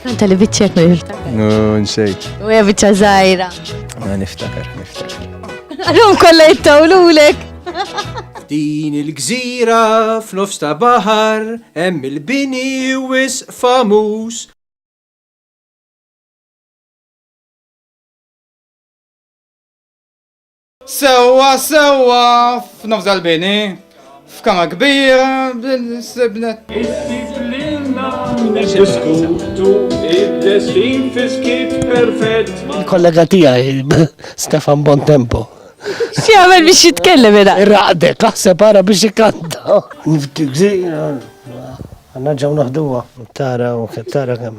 Kanta li biċċek ma niftakar. No, nsejt. U hija biċċa żgħira. Ma niftakar, niftakar. Għalhom kollha jittawlulek. Din il-gżira f'nofs ta' baħar hemm il-bini wis famuż Sewwa sewwa f'nofs dal-bini, f'kama kbira bil-sibnet. Issib lilna niddiskutu id-destin fiskit perfett. Il-kollega tiegħi Stefan Bontempo. X'jagħmel biex jitkellem era? Irraqdek, taħseb ara biex ikanta. Niftik zi, għanna ġew naħduha. Tara u tara kemm.